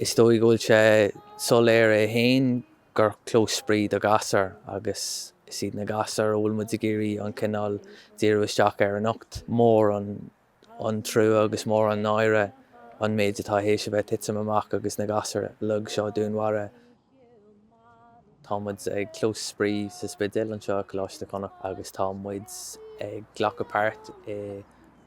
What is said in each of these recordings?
Is dóigh go bhfuil sé soiléir é féin gur clós spraoi do ghasúir agus is iad na gasúir a bhfuil muid ag iarraidh an cineál díriú isteach ar anocht. Is mór an trua agus is mór an náire an méid atá théis a bheith titim amach agus na gasúir uilig seo dúnmharaithe. Tá muid ag Clós Spraoi sa Spidéal anseo i Coláiste Chonnacht agus tá muid ag glacadh páirt i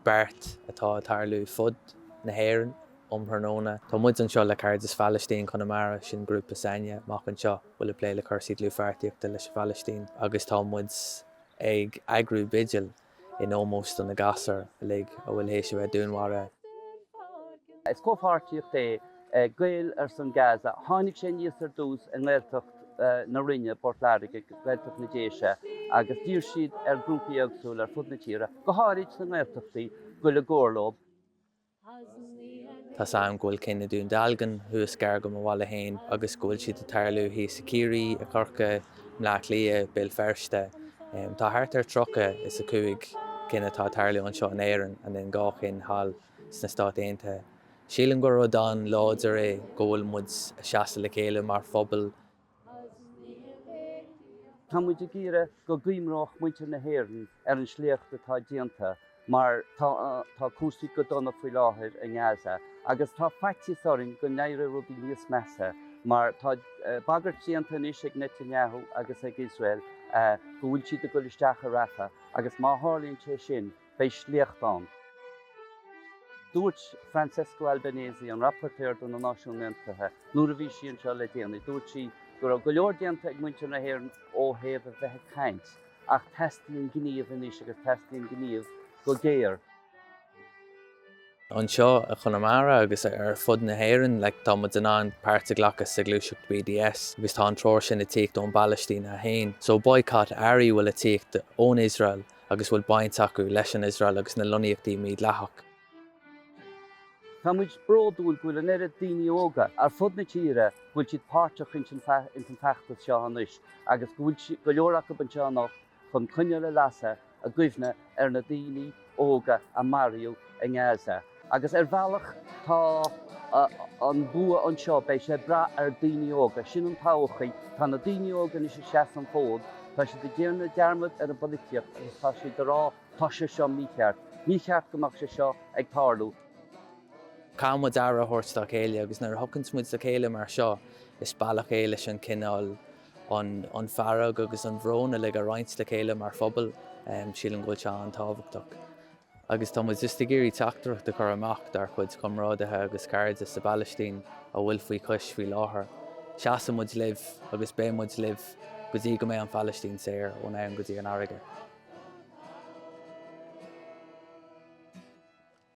beart atá ag tarlú fud na hÉireann um thráthnóna. Tá muid anseo le Cairdeas Phalaistín Chonamara, sin grúpa s'againne amuigh anseo bhfuil ag plé le cúrsaí dlúthpháirtíochta leis an Phalaistín agus tá muid ag eagrú bigil. in ómós do na gasúir uilig a bhfuil théis a bheith dúnmharaithe. Is comhpháirtíocht é Gaeil ar son Gaza. Tháinig sé aníos ar dtús i nGaeltacht na Rinne, Port Láirge, Gaeltacht na nDéise agus d'iarr siad ar grúpaí éagsúla ar fud na tíre, go háirid sna nGaeltachtaí, goil i gcomhar leo. Tá 's a'm go bhfuil cinn i Dún Dealgan thuas gar do mo bhaile féin agus go bhfuil siad a' tarlú thíos i Ciarraí, i Corcaigh, i mBleá Cliath, Béal Feirste. Tá thart ar tríocha is a cúig cinn atá a' tarlú anseo in Éirinn and then dhá cheann thall sna Stáit Aontaithe. Sílim gur rud an-láidir é go bhfuil muid a' seasamh le chéile mar phobal Tá muid ag iarraidh go gcuimhreodh muintir na hÉireann ar an sléacht atá déanta mar tá cúrsaí go dona faoi láthair i nGaza agus tá faitíos orainn go n-éireoidh rudaí níos measa mar tá bagairt déanta anois ag Netanyahu agus ag Iosrael go bhfuil siad ag dul isteach i Rafah agus má tharlaíonn sé sin Beidh sléacht ann. Dúirt Francesca Albanese, an Rapporteur do na Náisiúin Aontaithe, nuair a bhí sí anseo le déanaí, dúirt sí go raibh go leor déanta ag muintir na hÉireann ó thaobh a bheith ag caint, ach teastaíonn gníomh anois agus teastaíonn gníomh go géar. Anseo i gConamara agus ar fud na hÉireann, like, tá muid in ann páirt a ghlacadh sa ghluaiseacht BDS agus tá an treoir sin ag tíocht ón bPalaistín é féin. So, boycott, earraí a bhfuil ag tíocht ón Iosrael. agus a bhfuil baint acu leis an Iosrael agus na lonnaíochtaí mídhleathach. Tá muid bródúil go bhfuil an oiread daoine óga ar fud na tíre go bhfuil siad páirteach ins an feachtas seo anois agus go bhfuil go leor acu anseo anocht chun coinneal a lasadh i gcuimhne ar na daoine óga a maraíodh i nGaza. Agus ar bhealach tá an bua anseo, beidh sé ag brath ar daoine óga, sin an todhchaí. Tá na daoine óga anois ag seasamh an fód, tá siad ag déanamh dearmad ar an bpolaitíocht agus tá siad ag rá 'tá sé seo mícheart, ní ceart go mbeadh sé seo ag tarlú'. Caithfidh muid aire a thabhairt dá chéile agus nuair a thiocanns muid le chéile mar seo, is bealach é leis an cineál an fearg agus an brón uilig a roinnt le chéile mar phobal. Sílim go bhfuil sé an-tábhachtach. Agus tá muid just ag iarraidh teachtaireacht a chur amach dár chuid comrádaithe agus cairde sa bPalaistín a bhfuil faoi chois faoi láthair, seasann muid libh agus beidh muid libh go dtí go mbeidh an Phalaistín saor, ón abhainn go dtí an fharraige.